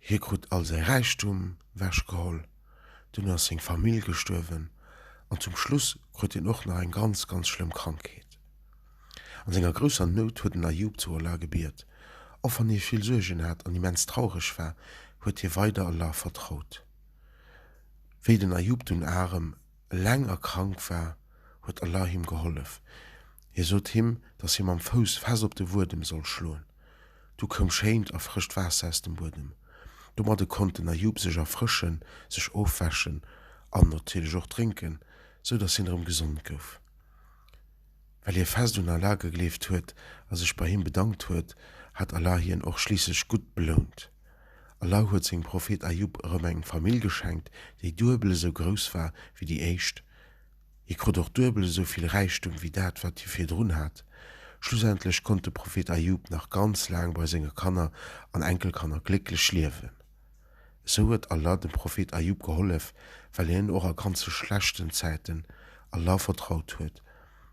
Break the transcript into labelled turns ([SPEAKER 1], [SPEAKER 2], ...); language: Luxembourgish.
[SPEAKER 1] Hie krut all säi Räichtum wechgeholl, dunn ass seng Famill gestuerwen an zum Schluss krut hien och nach eng ganz, ganz schlëmm Krankheet. An senger grousser Nout huet den Ajub zu Allah gebiet. Och wann hie vill Suergen hat an immens traureg war, huet hie weider Allah vertraut. Wéi den Ajub dunn arem. Eleng a krank war, huet Allah him gehollef. Hie sot him, dass hie mam Fouss fest op de Wuedem soll schloen. Du koum schéint a frëscht Waasser aus dem Buedem. Domadde konnt den Ajub sech erfrëschen, sech ofwäschen an natierlech och drénken, sou dass hien erëm gesond gouf. Well hie fest un Allah gegleeft huet a sech bei him bedankt huet, hat Allah hien och schliisslech gutt belount. Allau huet sengem Prophet Ajûb erëm eng Famill geschenkt, déi duebel esou grouss war wéi déi éischt. Hie krut och duebel esou vill Räichtum wéi dat, wat hie virdrun hat. Schlussendlech konnt de Prophet Ajûb nach ganz laang bei senge Kanner an Enkelkanner glécklech liewen. Esou huet Allah dem Prophet Ajûb gehollef, well hien och a ganze schlechten Zäiten Allah vertraut huet